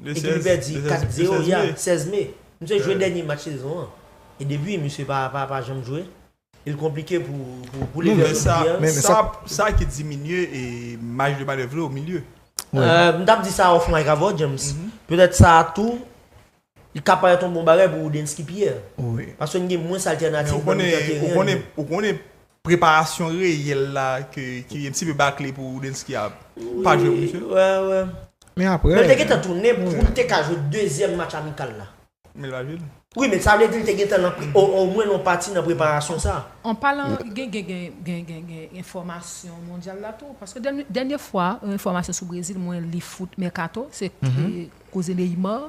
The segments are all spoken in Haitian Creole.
E depi pèdi 4 0 ya 16 me Misye jwe dènye match sezon an E depi misye pa janm jwe E l konplike pou li vin jwe Sa ki diminye maj de manèv li o milye M tap di sa off mic avèw James Petèt sa tou Li ka parèt yon bon bagay pou Woodensky Pierre Paske n gen mwens altènatif Ou konnen Preparasyon reyèl la ke ki un ti peu bakle pou Roudensky a pa jwe pou misye. Wè wè. Men aprè. Men te gentan tounen poul te ka jwe dezyèm match amikal la. Men li pa jwe l. Wi men sa vle di li te gentan nan omwen yon pati nan preparasyon sa. An palan gen gen gen gen gen enfòmasyon mondyal la tou paske dènye fwa yon enfòmasyon sou Brezil mwen li foot mercato se koze Neymar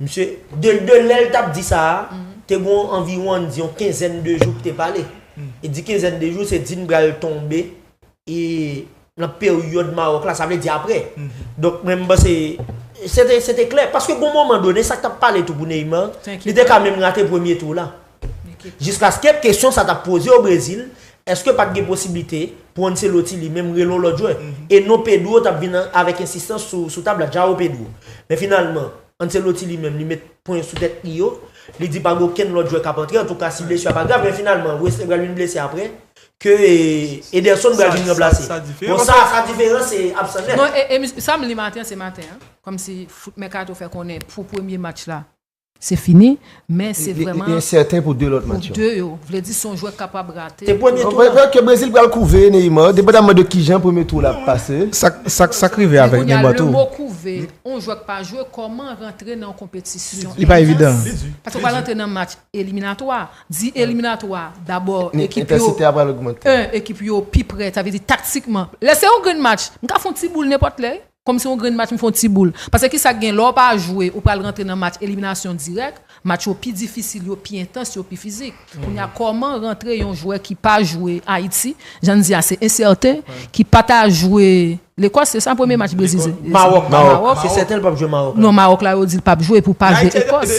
Msye Deldeux, lè l t ap di sa a, te gen yon anviwon ann di yon kenzèn de jou k te pale. E di kenzèn de jou, se di n pral tonbe nan peryòd Mawòk la, sa vle di apre. Donk mwen m panse se te klè. Paske gen yon moman done, sa k t ap pale tou pou Neymar, li te ka menm rate premye tou la. Jiskaske kesyon sa t ap poze o Brezil, èske pa t gen posiblite pou Ancelotti li menm rele yon lòt jwè, e non Pedro t ap vin avèk ensistans sou tab la, Joao Pedro. Men finalman, Ancelotti li menm li met pwen sou tèt li yo, li di pa gen okenn lòt jwè k ap antre, antouka si blesu a pa grav, men finalman Wesley pral vin blese aprè, ke Ederson pral vin ranplase. Bon sa sa diferan se absan nèt. Non, e sa m li maten an se maten an, kòmsi foot Mercato fè konnen pou premye match la, Se fini, men se vrèman. Li ensèten pou 2 lòt match yo. Pou 2 yo. Vle di se yon jwè k kapab rate. E premye tou la. Ke Brezil pral kouve Neymar, depandaman de kijan premye tou la pase. Sa k rive avèk Neymar tou. Men kounye a, lè mo kouve, yon jwè k pa jwe, kòman rantre nan yon konpetisyon. Li pa evidan. Li di. Paske ou pral rantre nan match eliminatwa. Di eliminatwa, dabò ekip yo. Entensite a pral ogmante. 1, ekip yo pi prè, sa vle di taktikman. Lè se yon grenn match, m ka fè yon ti boul nenpòt lè wi. Kòm se yon grenn match m fè yon ti boul. Pase ki sa k gen lè w pa jwe ou pral rantre nan match eliminasyon dirèk, match yo pi difisil, yo pi entans, yo pi fizik. Kounye a kòman rantre yon jwè ki pa jwe Ayiti, jan n di a se ensèten, ki pa ta jwe Lekòs se sa premye match Brezil se? Mawòk, se sèten l pap jwe Mawòk la. Non Mawòk la yo di l pap jwe pou l pa jwe Ekòs.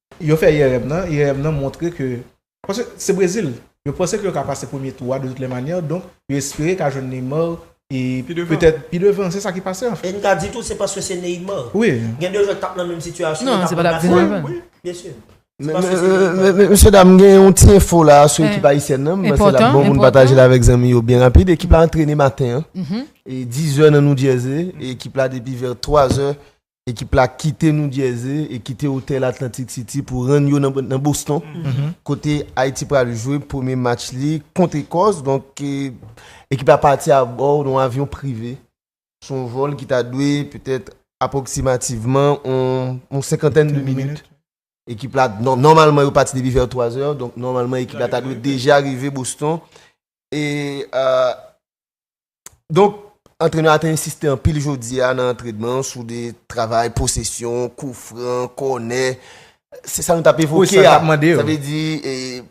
Yo fè IRM nan, IRM nan montre ke, paske se Brezil, yo panse ke yo ka pase premye tou a de tout lè manyè, donk yo espere ka jwenn Neymar e petèt pi devan, se sa ki pase anfen. E n ka di tou se paske se Neymar. Wi. Gen 2 jwè k t ap nan menm sitiyasyon yo t ap ranplase l. Non, se pa l k vin anvan. Byen si. Se paske se Neymar. Mesye dam, m gen yon ti enfo la sou ekip ayisyèn nan, m panse l ap bon pou n pataje l avèk zanmi yo byen rapid. Ekip la antrene maten an, e dizè nan Noudjèze, e ekip la depi vè twa zè Ekip la kite New Jersey e kite otèl Atlantic City pou rann yo nan Boston kote Ayiti pral jwe premye match li kont Ekòs. Donk ekip la pati abò yon avyon prive sou yon vòl ki ta dwe petèt apwoksimativman yon senkantèn de minit. Ekip la, nòmalman yo pati depi vè 3 zè, donk nòmalman ekip la ta dwe deja rive Boston e Donk, antrenè a te ensiste anpil jodi a nan antrenman an sou de travay posesyon, kou fran, kònè. Se sa nou t ap evoke a. Sa vle di,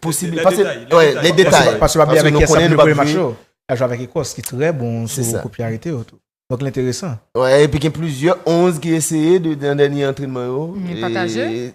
posible. Lè detay. Lè detay. Paske nou konnen nou p ap jwe. Paske mwen konnen match yo. L ap jwe avèk Ekòs ki trè bon sou kou pye arete yo tou. Donk l enteresan. Epi gen plizyè 11 ki eseye nan dènye antrenman yo. Pataje.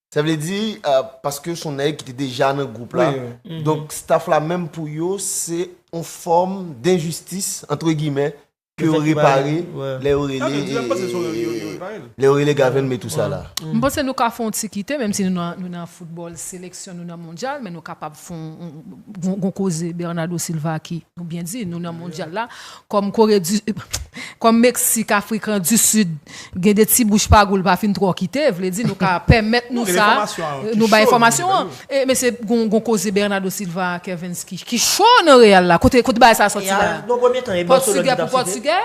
Sa vle di, paske son nèg ki te deja nan gwoup la, donk staff la menm pou yo se yon fòm denjistis, antre gimè, ke yo repare, lè yo rele, lè yo rele Government tout sa la. M panse nou ka fè yon ti kite, menm si nou nan foutbòl seleksyon, nou nan mondyal, men nou kapab fè yon, gon koze Bernardo Silva ki, nou byen di, nou nan mondyal la. Kòm Kore di Kòm Meksik, Afrikan di Sid gen 2 ti bouch pa gou l pa fin twò kite, vle di nou ka pèmèt nou sa, nou bay enfòmasyon an. E mesye gon gon koze Bernado Silva a Kervens ki ki cho nan Real la, kote kote bagay sa a sòti la? Pòtigè pou pòtigè?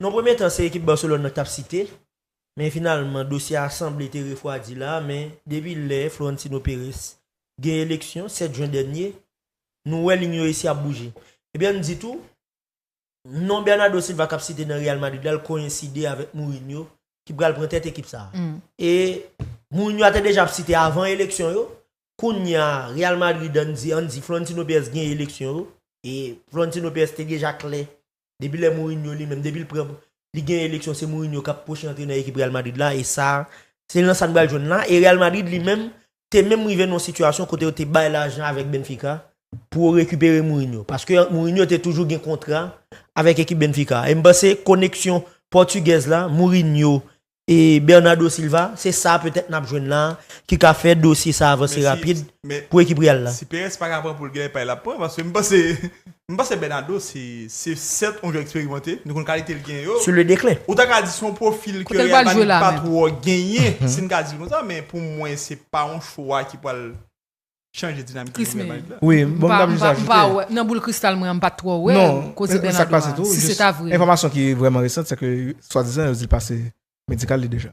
Nan premye tan se ekip Barcelone nan k t ap site, men finalman dosye a sanble te refwadi la a, men depi lè Florentino Perez gen eleksyon 7 jen dènye, nou wè lign yo esi ap bouje. Ebyen n di tou, Non Bernardo Silva kap site nan Real Madrid la koyenside avèk Mourinho ki pral pran tèt ekip sa. E Mourinho a te deja ap site avan eleksyon yo, kounya Real Madrid an di an di Florentino Perez gen eleksyon yo e Florentino Perez te deja klè depi lè Mourinho li menm depi l pran li gen eleksyon se Mourinho kap pwochen antrenè ekip Real Madrid la e sa se nan sa n pral jwenn la e Real Madrid li menm te menm rive nan yon sitiyasyon kote yo te bay lajan avèk Benfica pou yo rekipere Mourinho. Paske Mourinho te toujou gen kontra avèk ekip Benfica. E m panse koneksyon Pòtigèz la, Mourinho e Bernardo Silva, se sa petèt n ap jwenn la a ki ka fè dosye sa a vanse rapid pou ekip Real la. Men si Pérez pa ka pran pou l gen pay l ap pran paske m panse M panse Bernardo se se sèt yon jwè eksperimante, nou konn kalite l genyen yo. Sou le deklen. Ou ta ka di se yon pwofil ke Real Madrid pa twò genyen, si n ka di l konsa, men pou mwen se pa yon chwa ki pral chanje dinamik ekip Real Madrid la. Wi, bon m ta jis ajoute. M pa wè, nan boul kristal mwen an m pa twò wè koze Bernardo a, si se ta vre. Enfòmasyon ki vrèman resan se ke swadizan yo di l pase medikal li deja.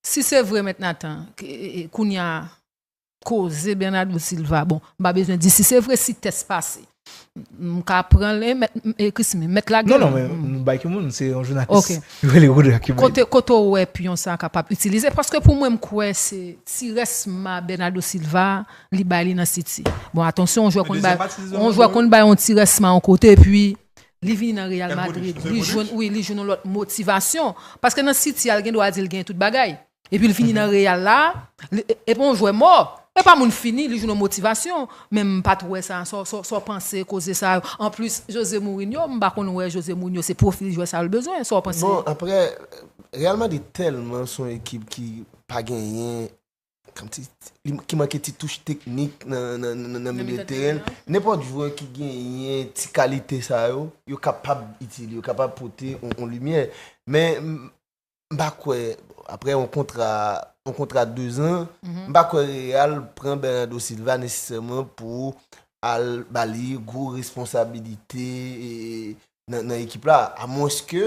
Si se vre mèt Nathan kounya koze Bernardo Silva bon m pa bezwen di si se vre si tès pase m ka pran l e Christmy mèt lage l. Non non men nou bay ki moun se yon jounalis yo rele Rodra ki bay li. Kote w wè pyon sa kapab itilize paske pou mwen m kwè se ti rès ma Bernardo Silva li bay li nan City. Bon atansyon yon jwè konn bay yon ti rès ma yon kote epi Li vini nan Real Madrid, li jwenn wi, li jwenn yon lòt motivasyon. Paske nan City a, l gen dwa di l gen tout bagay. Epi l vini nan Real la, e pa yon jwè mò, e pa moun fini, li jwenn yon motivasyon. Men m pa t wè sa, sa w panse koze sa yo? Anplis, Jose Mourinho, m pa konn wè Jose Mourinho se pwofil jwè sa yo l bezwen. Sa w panse? Bon, aprè, Real Madrid tèlman s on ekip ki pa genyen Ki manke ti touch teknik nan milye teren. Nenpòt jwè ki genyen ti kalite sa yo, yo kapab itil, yo kapab pote yon limyè. Men, m pa kwè, apre yon kontra, yon kontra 2 zan, m pa kwè Real pran Bernardo Silva nesesèman pou al ba li gwo responsabilite nan ekip la. A mwenske,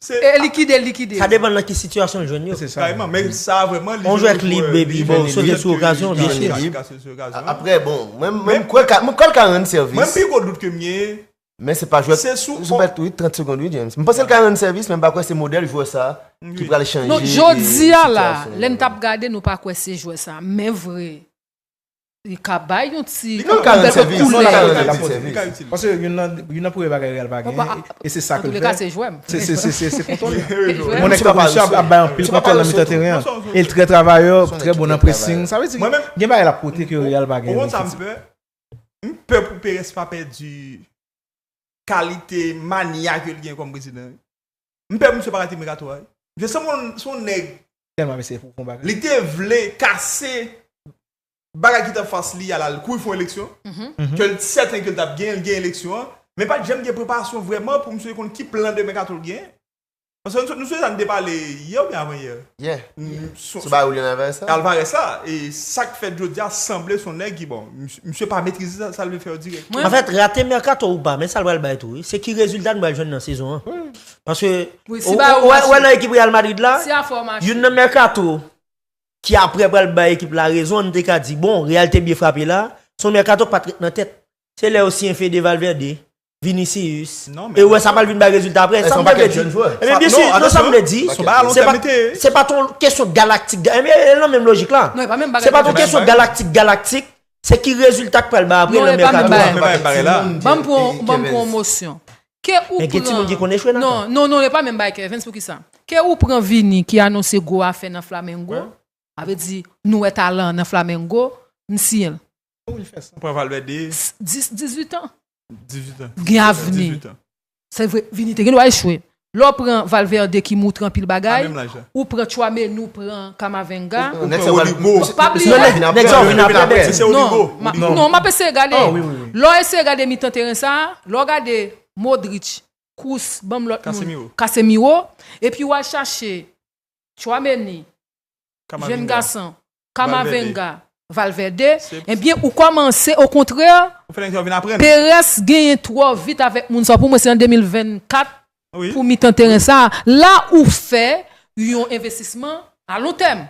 Se. E likide l likide Sa yo. depan nan ki sitiyasyon l jwenn yo. Se sa. Kayman, men sa vrèman li On jwe jwèt lib epi li bon, vini sote lib. sou okazyon, Petèt ke li byenchire. ka sote sou okazyon. Aprè bon, mwen mwen Men- kwè l ka mwen kwè l ka rann Mwen sèvis. pi gwo dout ke m genyen, Men se pa jwèt Se sou- Joseph wi 30 segond wi James. M panse l ka rann sèvis men m pa kwè se modèl jwè sa ki Wi. pral chanje Non, e, jodi a la, sitiyasyon lè n t yo. ap gade nou pa kwè se jwè sa. Men vre. Li ka bay yon ti. Li ka rann sèvis. Li ka rann yon ti sèvis. Li ka itil. Paske youn nan premye bagay Real pa gen e se sa ke l fè. Antoulè ka se jwè m. Se kontwòl li. Yon nèg tankou Richard ap bay anpil kontwòl nan mitan teren an. E l trè travayè, trè bon nan pressing. Sa vle di gen bagay l ap pote ke Real pa gen. Ou konn sa m pè? M pè pou Perez pa pèdi kalite mania ke l gen kòm prezidan wi. M pè pou misye pa rate mekato a wi. Misye sanble yon nèg Telman mesye pou bon bagay. Li te vle kase bagay ki t anfas li a la l kouri fon eleksyon ke l sèten ke l t ap genyen, l genyen eleksyon an men pa t janm gen preparasyon vrèman pou msye konn ki plan demen Kato l genyen. Paske nou sonje sa n te pale yè oubyen avan yè? Yè. Sou bagay Willian Alvarez la? Alvarez la e sa k fèt jodi a sanble s on nèg ki bon msye pa metrize sa l vle fè yo dirèkteman. Anfèt rate mèkato ou pa men sa l pral bay tou wi se ki rezilta n pral jwenn nan sezon an. Paske, ou wè nan ekip Real Madrid la, youn nan Mercato ki apre pral bay ekip la rezon, nou te ka di, bon, Real te byen frape la, son Mercato pat ret nan tèt. Se lè yo siyen Fede Valverde, Vinicius, e ou wè sa pral vin bay rezilta apre. Sa mwen vle di, non sa mwen vle di, se pa ton kesyon galaktik, e l nan menm lojik la, se pa ton kesyon galaktik galaktik, se ki rezilta k pral bay apre nan Mercato. Ban m pran yon mosyon. Ke ou Men gen pran timoun ki konn echwe nan Non, tan. non, non, yo pa menm bay kè. Evens, poukisa? Ke ou pran Vini ki anonse gwo afè nan Flamengo, Mwen. sa vle di nou wè talan an nan Flamengo, m siyen l. Pou li fè sa. Pran Valverde. S, 10, 18 an. 18 an. Gen 17 ans, avni. 18 ans. Se vre, Vini te gen dwa echwe. Lè w pran Valverde ki moutre anpil bagay. Pa menm laj la. Ou pran chwa menu ou pran kamavenga. Ou pran oligo. Pa bliye. Nèg sa yo vin aprè bèt yo. Non map eseye gade. Lè w eseye gade mitan teren sa, lè w gade Modric, Kroos, banm lòt moun, Casemiro, epi w al chache Tchouaméni, Jeune Garçon, Camavinga, Valverde, ebyen ou kòmanse o kontrè Perez genyen twò vit avèk moun sa pou mwen se an 2024 pou mitan teren sa la ou fè yon envestisman a lon tèm.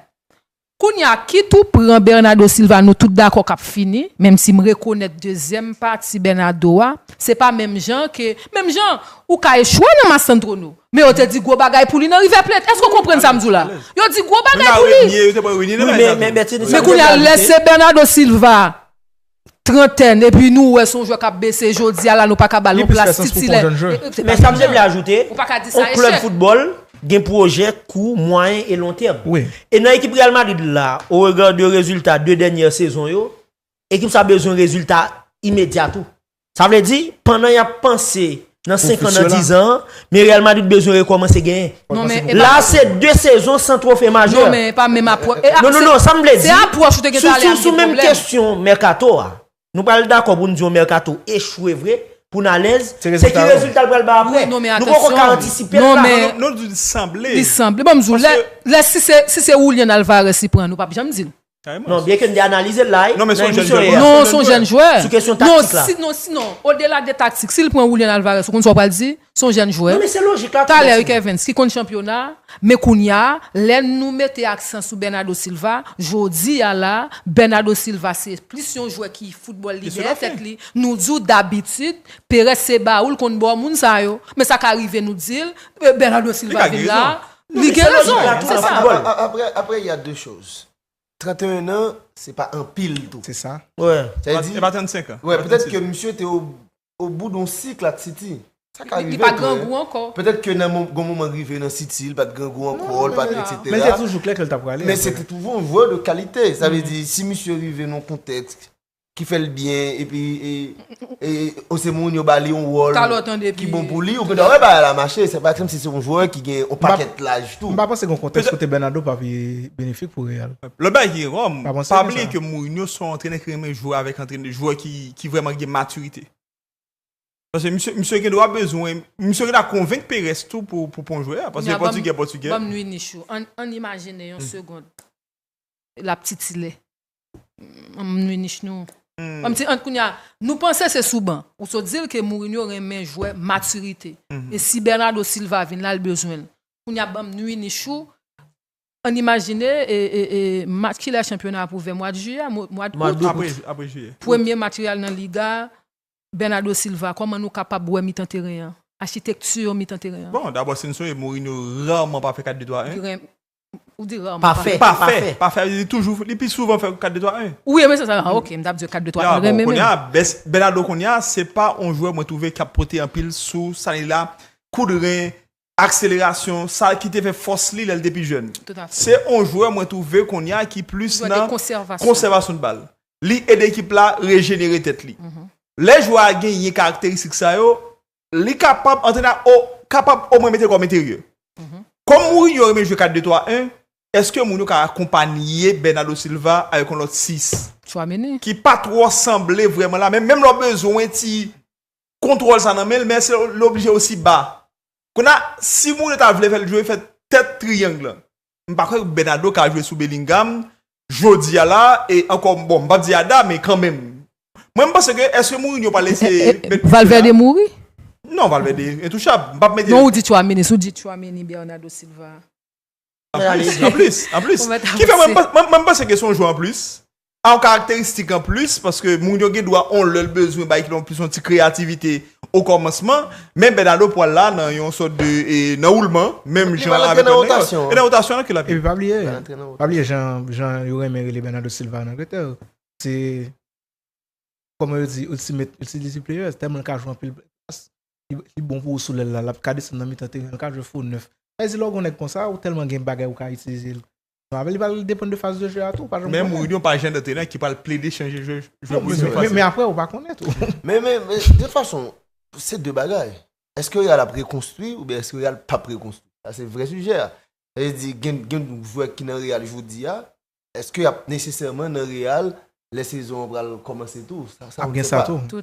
Kounya kit ou pran Bernado Silva nou tout dakò kap fini menm si m rekonèt dezyèm pati Bernado a se pa menm jan ke menm jan ou ka echwe nan Massandro nou Men yo te di gwo bagay pou li nan River Plate. Èske w konprann sa m di w la? Yo di gwo bagay pou li. Men kounye a, lè se Bernardo Silva, trantèn, epi nou wè se yon jwè k ap bese, jodi a la nou pa ka ba l yon plas titilè. Men sa m te vle ajoute, yon klèb foutbòl gen pwojè kou, mwayen e lon tèm. E nan ekip Real Madrid la, o rega de rezilta 2 dènyè sezon yo, ekip sa bezwen rezilta imedya tou. Sa vle di, pandan y ap panse nan senkan, nan dizan, men Real Madrid bezwen rekòmanse genyen. La a se 2 sezon san twofe majè. Non men e pa menm apwòch. E a, se, non, non, sa m vle di, se apwòch ou te gen tan ale a ki gen pwoblèm. Sou menm kesyon mèkato a, nou pral dakò pou n di yon mèkato echwe vre, pou n alèz, se ki rezilta l pral bay apre. Nou poko ka antisipe l la. Non, li sanble. Li sanble. Bon m di w, lè, lè si se, si se Julian Alvarez li pran, nou p ap janm di l. Non, byenke n te analize l la nan emisyon yè a. Non, s on jèn jwè. Sou kesyon taktik la. Non, si, non, odela de taktik, si l pran Julian Alvarez, ou konn sa w pral di? S on jèn jwè. Non, men se lojik la tou. Talè wi Kervens, ki konn chanpyona, men kounye a, lè nou mete aksan sou Bernardo Silva, jodi a la, Bernardo Silva se plis yon jwè ki foutbòl li dèyè tèt li. Nou di w dabitid, Perez se bawou, l konn bo moun sa yo. Men sa ka rive nou di l, Bernardo Silva vin la, Li gen rezon, se sa. Apre ya de choz. 31 an, se pa anpil tou. Se sa. Wè. Sa di. Se pa 35 an. Wè, petèt ke misye te o bout yon sik la ak City. Sa ka rive. Li pa grangou ankò. Petèt ke nan yon moman rive nan City, li pat grangou ankò, li pat etc. Men se toujou klè ke li ta prale. Men se te toujou yon jwè de kalite. Sa vle di, si misye rive nan yon kontèks ki fèl byen epi ou se moun yo bali yon wòl ki bon pou li ou gen dwa wè bagay la mache se pa kòm si se yon jwè ki gen yon pakèt laj tou. M pa panse gen yon kontèks kote Bernardo pa pi benefik pou Real. Lòt bagay ki gen kò, m pa bliye ke Mourinho se yon antrenè ki renmen jwe avèk antrenè jwè ki vrèman gen matirite. Paske misye misye gen dwa bezwen misye gen dwa konvenk Perez tou pou pou pran yon jwè a paske se pòtigè pòtigè. Banm nwi nichou, ann imajine yon segond lap titilè. Anmn Munich nou. Anm ti ant kounya, nou panse se sou ban. Ou sot di l ke Mourinho renmen jwè matirite. E si Bernardo Silva vin la, l bezwen l. Kounya banm Munich ou, ann imajine e e e match kilè chanpyona ap ouvè mwad jiyè, mwad out? Mwad out, apre jiyè. Premye match Real nan Liga, Bernardo Silva, kòman nou kapab wè mitan teren an? Achitekti mitan teren an? Bon, dabò si n sonje Mourinho rarman pa fè 4-2-3-1. Ou di rarman. Pa fè. Pa fè. Pa fè. Li toujou. Li pi souvan fè 4 2 3 1. Ou renmen sa sa? Ah ok. M tap di yo 4 2 3 1 renmen men. Ya bon kounya Bernardo kounya se pa yon jwè mwen twouve kap pote anpil sou sa li la, kout ren, akselerasyon, sa ki te fè fòs li lè l te pi jèn. Se yon jwè mwen twouve kounya ki plis nan konsèvasyon bal. Li ede ekip la rejenere tèt li. Lè jwè a genyen karakteristik sa yo, Li kapab, antrenè a o, kapab omwen mete kòm enteryè. Kòm Mourinho renmen jwe 4 2 3 1, èske Mourinho ka akonpanye Bernardo Silva avèk yon lòt 6, Tchouaméni. ki pa twò sanble vrèman la, men menm lè w bezwen ti kontwòl sa nan men l, men èske l oblije osi ba? Kounye a, si Mourinho ta vle fè l jwe, fè tèt triyang lan. M pa kwè Bernardo ka jwe sou Bellingham jodi a la e ankò bon m pap di Ada men kanmenm mwen m panse ke eske Mourinho pral eseye met Pique la. Valverde mouri? Non Valverde entouchab m pap mete. Non ou di Tchouameni si w di Tchouameni Bernardo Silva. Anplis anplis anplis. Ki fè mwen m panse ke son jwè anplis Yon karakteristik an plis, paske moun yo gen dwa yon lè bezwen bay yon plis yon ti kreyativite o kòmansman, men Bernardo pwal la nan yon sòt de nan woulman, menm jan avèk lòt nèg yo. E nan wotasyon an? E pi pa bliye, pa bliye jan yo renmen rele Bernardo Silva an Angletè, se kòman yo di ultimate utility player, tèlman l ka jwe anpil plas, li bon pou ou sou lèl la, l ap ka desann nan mitan teren, l ka jwe fo nèf. Sa vle di lè w gen yon nèg konsa, ou tèlman gen bagay ou ka itilize l Avan li pral depann de faz de jeu a tou ou pa janm konnen. Men Mourinho pa jan d'antrenè ki pral plede chanje jeu Mourinho fasil. Men aprè ou pa konnen tou. Men men men de tout fason se 2 bagay. Eske Real ap rekonstwi oubyen eske Real pap rekonstwi? Sa se vrè sijè a. Sa vle di gen gen jwè ki nan Real jodi a, eske yap nesesèman nan Real lè sezon an pral kòmanse tou? Sa ou n se pa. Ap gen sa tou.